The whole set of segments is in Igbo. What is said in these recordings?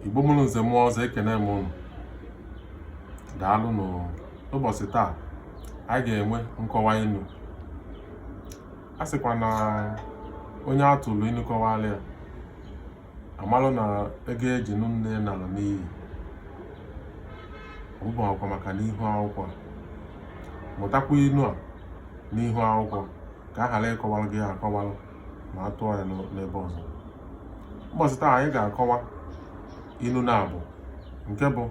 igbo mụrụ nze mụọ ọzọ ekene m ụnụ daalụ n'ụbọchị taa anyị ga-enwe nkọwa inu a sịkwa na onye a tụrụ inu kọwara ya a malụ na ego e ji nụ nne nara n'iyi ọbụbụ akwa maka n'ihu akwụkwọ mụtakwa inu a n'ihu akwụkwọ ka a ghara ịkọwara gị akọwara ma a tụọ ya n'ebe ọzọ mbọsị taa anyị ga-akọwa inu naabọ nke bụ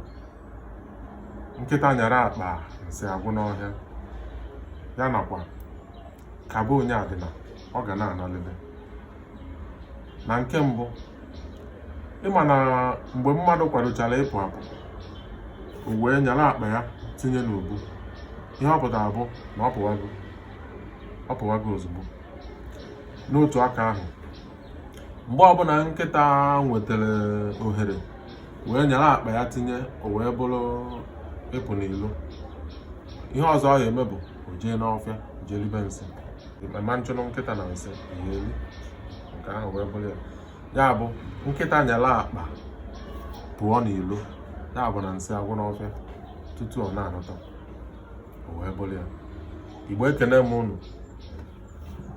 nkịta nyara akpa nsị agwụ n'ọhịa ya nakwa ka be onye adịna ọ ga na-analịlị na nke mbụ ị ma na mgbe mmadụ kwadochara ịpụ apụ o wee nyara akpa ya tinye n'ubu ihe ọ pụtara bụ na ọ pụwago ozugbo n'otu aka ahụ mgbe ọbụla nkịta nwetara ohere wee nyara akpa ya tinye o wee bụrụ ịpụ n'ilo ihe ọzọ ọ ga-eme bụ o jee n'ọfịa jee ribe nsị ma nchụrụ nkịta na nsị ihe elu nke ahụ wee bụrụ ya ya bụ nkịta nyara akpa pụọ n'ilo ya bụ na nsị agwụ n'ọfịa tutu ọ na-anọta wee bụrụ ya igbo ekene m ụnụ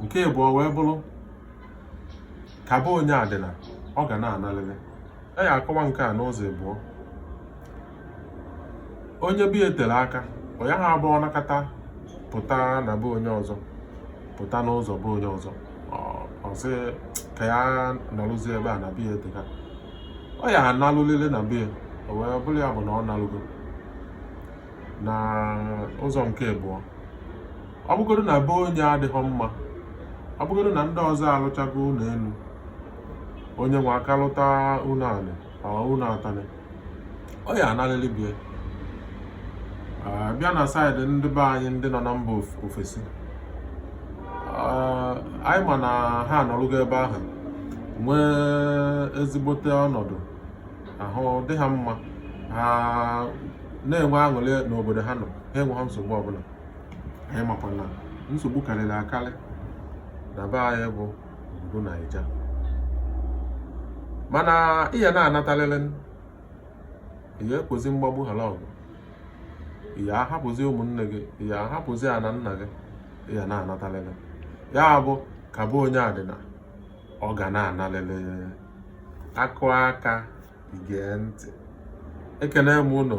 nke ịbụọ wee bụrụ ka be onye adịna ọ ga na-analịlị a ya akọwa nke a n'ụzọ ịbụọ onye be ya tere aka ọ yaha abụ ọ nakata pụta na be onye ọzọ pụta n'ụzọ be onye ọzọ ọ sị ka ya naruzie ebe a na be ya eteka ọ ya analulịlị na be ya o wee bụrụ ya bụ na ọ nalugo na ụzọ nke ịbụọ ọ bụgodu na be onye adịhọ mma ọ bụgodu na ndị ọzọ alụchago ụnọ enu onye nwe aka lụta ụnọ anị or ụnọ atanị ọ ya analịlị be ya bịa na side ndị be anyị ndị nọ na mba ofesi anyị ma na ha anọlụgo ebe ahụ nwee ezigbote ọnọdụ ahụ dị ha mma ha na-enwe aṅụrị n'obodo ha nọ ha enweghị nsogbu ọbụla anyị makwa na nsogbu karịrị akarị na be anyị bụ obodo naija mana ị ya na-anatalịlị ị ya ekwozi mgbagbu hala ọgụ ị ya ahapụzi ụmụnne gị ị ya ahapụzi ana nna gị ị ya na-anatalịlị ya bụ ka be onye adịna ọ ga na-analịlị a kụọ aka e gee ntị ekene m ụnụ